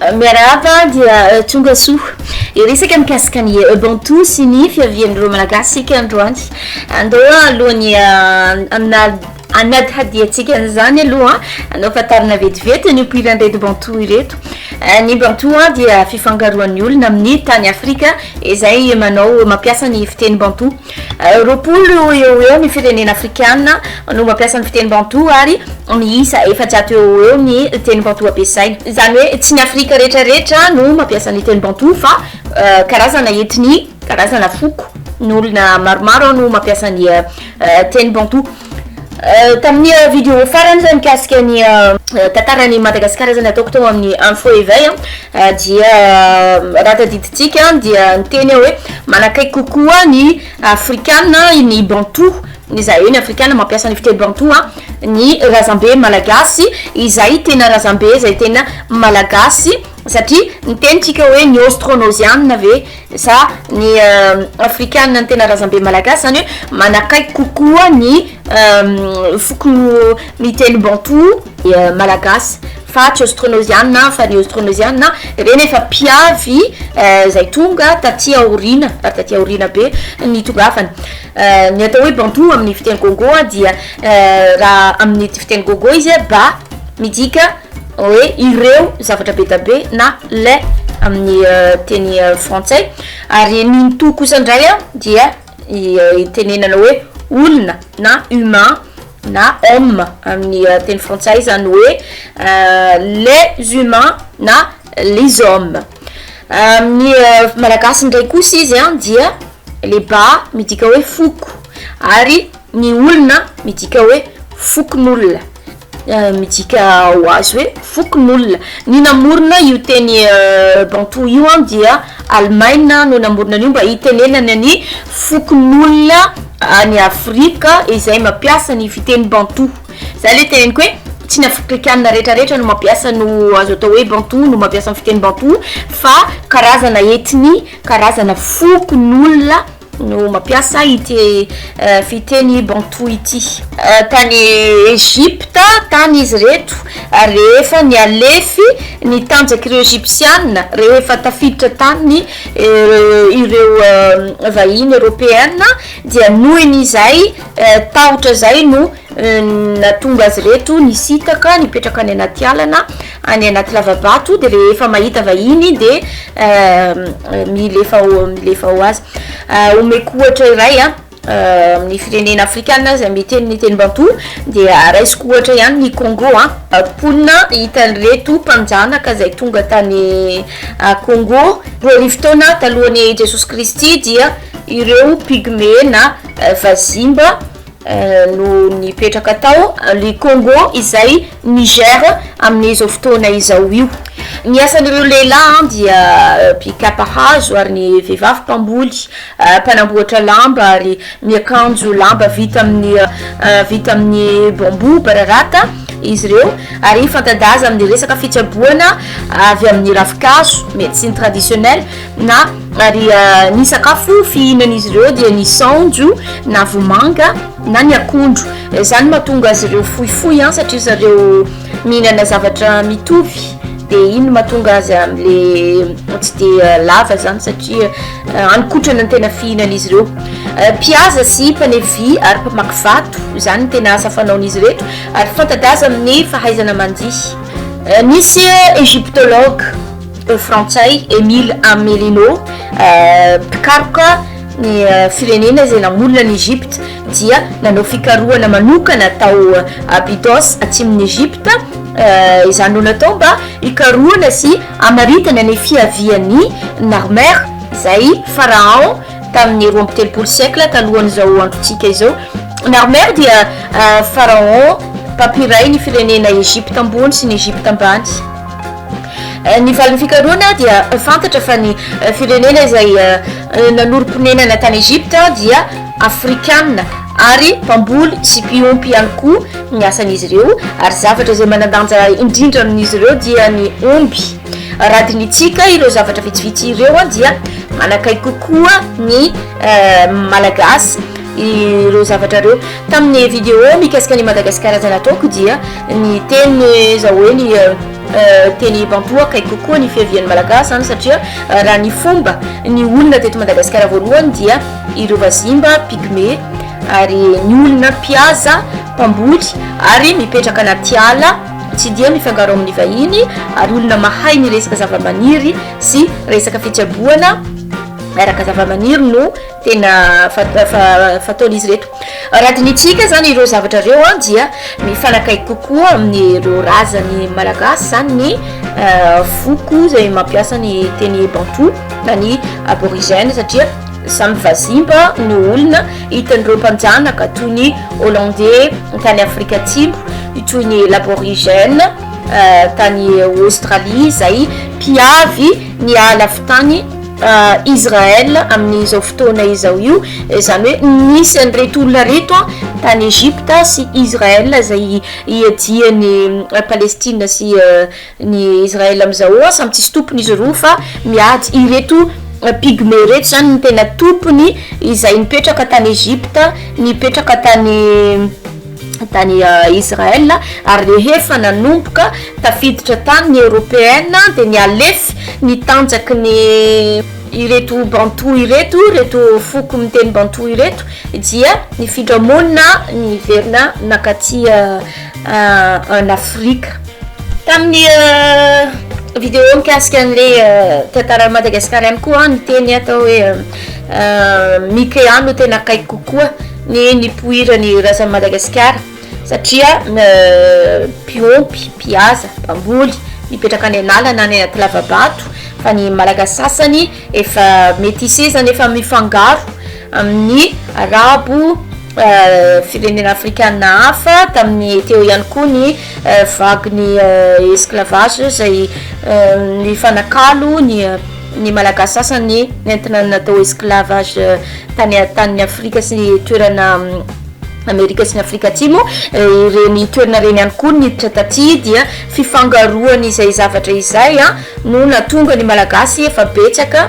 Miarahaba dia eh, tonga soa. Iresaka mikasika ny eh, Ubuntu sy ny fiavian'ireo Malagasy isika androany. Andao alohan'ny eh, amina Hanadihadiantsika an'izany aloha, hanao fantarina vetivety ny nipoiran'ireto Bantou ireto. Ny Bantou dia fifangaroan'ny olona amin'ny tany Afrika izay manao mampiasa ny fiteny Bantou. Roapolo eo ho eo ny firenena afrikana no mampiasa ny fiteny Bantou ary miisa efajato eo ho eo ny teny Bantou ampiasaina. Izany hoe tsy ny Afrika rehetra rehetra no mampiasa ny teny Bantou fa karazana etnia. Karazana foko ny olona maromaro ao no mampiasa ny teny Bantou. Tamin'ny vidéo farany izay mikasika ny tantaran'i Madagasikara izay nataoko tao amin'ny Info Eveil dia raha tadidintsika dia niteny aho hoe manakaiky kokoa ny Afrikana ny Bantou izay hoe ny Afrikana mampiasa ny fiteny Bantou ny razambe malagasy izay tena razambe izay tena malagasy Satria ny teny tsika hoe ny austronosianina ve sa ny afrikanina ny tena razambe malagasy zany hoe manakaiky kokoa ny foko miteny banto malagasy fa tsy austronosianina fa ny austronosianina reny efa mpiavy zay tonga taty aoriana ary taty aoriana be ny tongavana ny atao hoe banto amin'ny fiteny gongo dia raha amin'ny fiteny gongo izy ba midika hoe ireo zavatra be dia be na le amin'ny teny frantsay ary ny ny to kosa indray a dia itenenana hoe olona na humain na homme amin'ny teny frantsay izany hoe les humains na les hommes amin'ny malagasy indray kosa izy a dia leba midika hoe foko ary ny olona midika hoe fokonolona Midika ho azy hoe fokonolona. Ny namorona io teny Bantou io dia Alemaina no namorona an'io mba hitenenana ny fokonolona any Afrika izay mampiasa ny fiteny Bantou. Izay ilay teneniko hoe tsy ny Afrikana rehetrarehetra no mampiasa no azo atao hoe Bantou no mampiasa ny fiteny Bantou fa karazana ethnie, karazana fokonolona. no mampiasa ity fiteny bantou ity. Tany Egypta tany izy ireto ary rehefa nihalefy ny tanjak'ireo Egypsiana rehefa tafiditra tany ireo vahiny Eropeana dia nohon'izay tahotra izay no Nahatonga azy ireto nisintaka nipetraka any anaty ala na any anaty lava-bato dia rehefa mahita vahiny dia milefa milefa ho azy. Omeko ohatra iray a amin'ny firenena afrikana izay miteny ny teny bantou dia raisiko ohatra ihany ny Congo a. Mponina hita an'ireto mpanjanaka izay tonga tany Congo roa arivo taona talohan'i Jesosy Kristy dia ireo pygmée na vazimba. no nipetraka tao le Congo izay Niger amin'ny izao fotoana izao io. Ny asan'ireo lehilahy dia mpikapa hazo ary ny vehivavy mpamboly, mpanamboatra lamba ary miakanjo lamba vita amin'ny vita amin'ny bambou bararata izy ireo ary fanta-daza amin'ny resaka fitsaboana avy amin'ny ravinkazo, médecine traditionnelle. Na, ary ny sakafo fihinan'izy ireo dia ny saonjo na vomanga na ny akondro. Izany no mahatonga azy ireo fohifohy an, satria zareo mihinana zavatra mitovy, dia iny no mahatonga azy amin'ilay tsy dia lava izany satria haninkotrana ny tena fihinan'izy ireo. Mpihaza sy mpanefy vy ary mpamaky vato, izany no tena asa fanaon'izy ireto, ary fanta-daza amin'ny fahaizana mandihy. Nisy egyptologue. Teny frantsay, Emile Amelino, mpikaroka ny firenena izay namorona an'i Egypte dia nanao fikarohana manokana tao Abydos atsimon'i Egypte, izany no natao mba hikarohana sy hamaritana ny fiavian'i Narmer izay Pharaon tamin'ny roa amby telopolo siècle talohan'izao androntsika izao. Narmer dia Pharaon mpampiray ny firenena Egypte ambony sy ny Egypte ambany. Ny valin'ny fikarohana dia fantatra fa ny firenena izay nanorim-ponenana tany Egypta dia Afrikana ary mpamboly sy mpiompy ihany koa ny asan'izy ireo ary zavatra izay manan-danja indrindra amin'izy ireo dia ny omby. Raha dinihintsika ireo zavatra vitsivitsy ireo dia manakaiky kokoa ny Malagasy ireo zavatra ireo. Tamin'ny video mikasika an'i Madagasikara izay nataoko dia ny teny izao hoe ny. Teny Bampoa akaiky kokoa ny fiavian'ny Malagasy izany satria raha ny fomba ny olona teto Madagasikara voalohany dia ireo vazimba, pygmée, ary ny olona mpihaza, mpamboly, ary mipetraka anaty ala tsy dia mifangaro amin'ny vahiny ary olona mahay ny resaka zavamaniry sy resaka fitsaboana araka zavamaniry no tena fataon'izy ireto. Raha dinihintsika izany ireo zavatra ireo an, dia mifanakaiky kokoa amin'ireo razan'ny Malagasy izany ny eh, foko izay mampiasa ny teny bantou na ny aborigène satria samy vazimba no olona hitan'ireo mpanjanaka toy ny hollandais tany Afrika Atsimo, toy ny laborigène eh, tany Australie izay mpiavy ny ala fitany Israël amin'izao fotoana izao io izany hoe nisy an'ireto olona reto a tany Egypte sy Israël izay iadian'i Palestine sy ny Israël amin'izao eo a samy tsisy tompony izy roa fa miady ireto pygmée ireto izany no tena tompony izay nipetraka tany Egypte nipetraka tany tany Israël ary rehefa nanomboka tafiditra tany ny européenne dia nialefy ny tanjaky ny ireto bantou ireto ireto foko miteny bantou ireto dia nifindra monina niverina nakaty en Afrique tamin'ny vidéo mikasika an'ilay tantaran'i Madagascar ihany koa ny teny atao hoe Mikea no tena akaiky kokoa ny nipoiran'ny razan'i Madagasikara satria mpiompy, mpiasa, mpamboly mipetraka any an'ala na any anaty lava-bato fa ny Malagasy sasany efa métissé izany efa mifangaro amin'ny Arabo, firenena Afrikana hafa tamin'ny teo ihany koa ny vague-ny esclavage izay nifanakalo ny. Ny Malagasy sasany nentina natao esclavage tany an-tanin'i Afrika sy toerana Amerika sy ny Afrika Atsimo. Ireny toerana ireny ihany koa niditra taty dia fifangaroan'izay zavatra izay no nahatonga ny Malagasy efa betsaka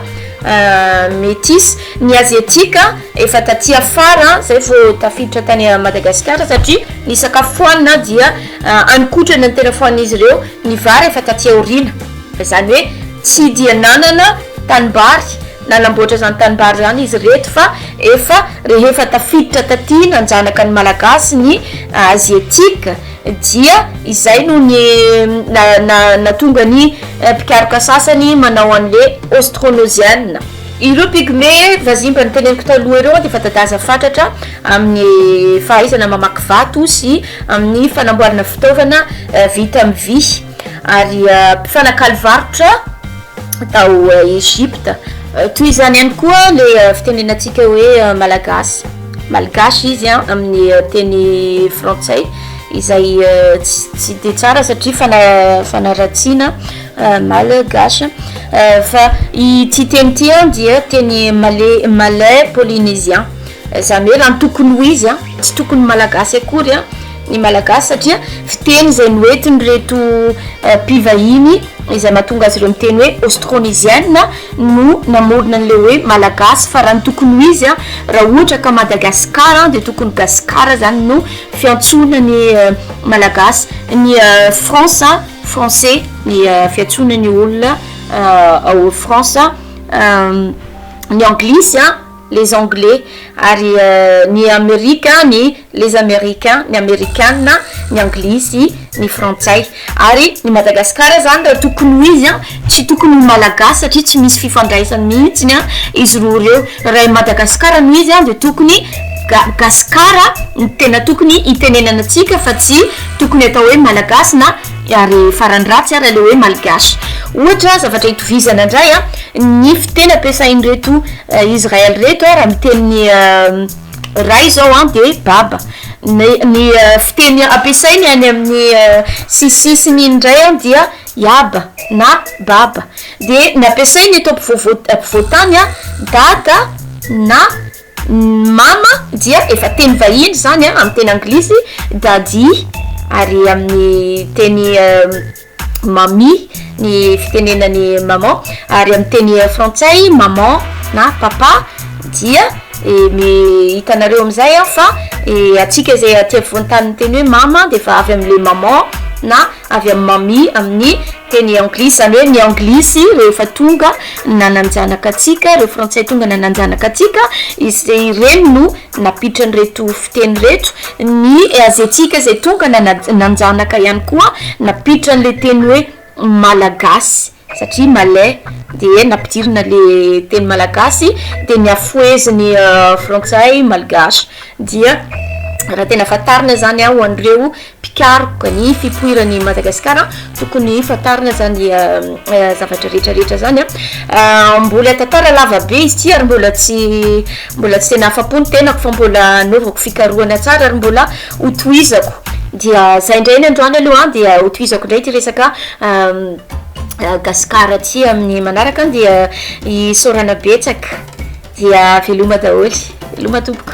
métis. Ny Aziatika efa taty afara izay vao tafiditra tany Madagasikara satria ny sakafo fohanina dia hanin-kotrana ny tena fohanin'izy ireo, ny vary efa taty aoriana. Izany hoe tsy dia nanana tanimbary nanamboatra izany tanimbary izany izy ireto fa efa rehefa tafiditra taty nanjanaka ny Malagasy ny Aziatique dia izay no ny nahatonga ny mpikaroka sasany manao an'le Austronesienne. Ireo pygmée vazimba noteneniko taloha ireo dia efa dadaza fatratra amin'ny fahaizana mamaky vato sy amin'ny fanamboarana fitaovana vita amin'ny vy. ary mpifanakalo varotra tao Egypta. Toy izany ihany koa le fitenenantsika hoe malagasy, malgache izy an, amin'ny teny frantsay, izay tsy dia tsara satria fanaratsiana malgache, fa ity teny ity an dia teny malais, malais polynésien, izany hoe raha ny tokony ho izy an, tsy tokony malagasy akory an. ny malagasy satria fiteny izay noentin'ireto mpivahiny izay mahatonga azy ireo miteny hoe austronesienne no namorona an'ilay hoe malagasy fa raha ny tokony ho izy a raha ohatra ka madagascar dia tokony gascar zany no fiantsoana ny euh, malagasy ny euh, france français ny euh, fiantsoana ny olona ao france ny anglisy a les anglais, ary ny amerika ny les américains, ny amerikana, ny anglisy, ny frantsay, ary ny madagasikara zany raha tokony ho izy an tsy tokony ho malagasy satria tsy misy fifandraisany mihitsiny an izy roa ireo raha i madagasikara no izy an dia tokony ga gasikara no tena tokony hitenenana antsika fa tsy tokony atao hoe malagasy na ary farany ratsy ara le hoe malgache ohatra zavatra hitovizana indray an ny fiteny ampiasain'ireto Israel reto a raha miteny ny Ray zao a de Baba ny ny fiteny ampiasainy any amin'ny sisisisiny iny ndray a dia Yaba na Baba de ny ampiasainy eto ampovoavo ampovoantany a Dada na Mama dia efa teny vahiny zany a amin'ny teny anglisy Daddy ary amin'ny teny Mammy ny fitenenan'i maman ary amin'ny teny frantsay maman na papa dia hitanareo amin'izay an fa antsika izay aty afovoan-tany miteny hoe mama dia efa avy amin'ilay maman na avy amin'ny mammy amin'ny teny anglisy izany hoe ny anglisy rehefa tonga nanan-janaka antsika ireo frantsay tonga nanan-janaka antsika izay ireny no nampitran'ireto teny reto ny aziatika izay tonga nanjanaka ihany koa nampiditra an'ilay teny hoe malagasy satria malais dia nampidirina le teny malagasy dia ny afoheziny frantsay malgache dia raha tena fantarina izany aho ho an'ireo mpikaroka ny fipoiran'i Madagasikara tokony fantarina zany zavatra rehetra rehetra zany a mbola tantara lava be izy ty ary mbola tsy mbola tsy tena afa-po ny tenako fa mbola anaovako fikarohana tsara ary mbola hotohizako dia zay indray ny androany aloha dia hotohizako indray ty resaka Gasikara ty amin'ny manaraka dia isaorana betsaka dia veloma daholo veloma tompoko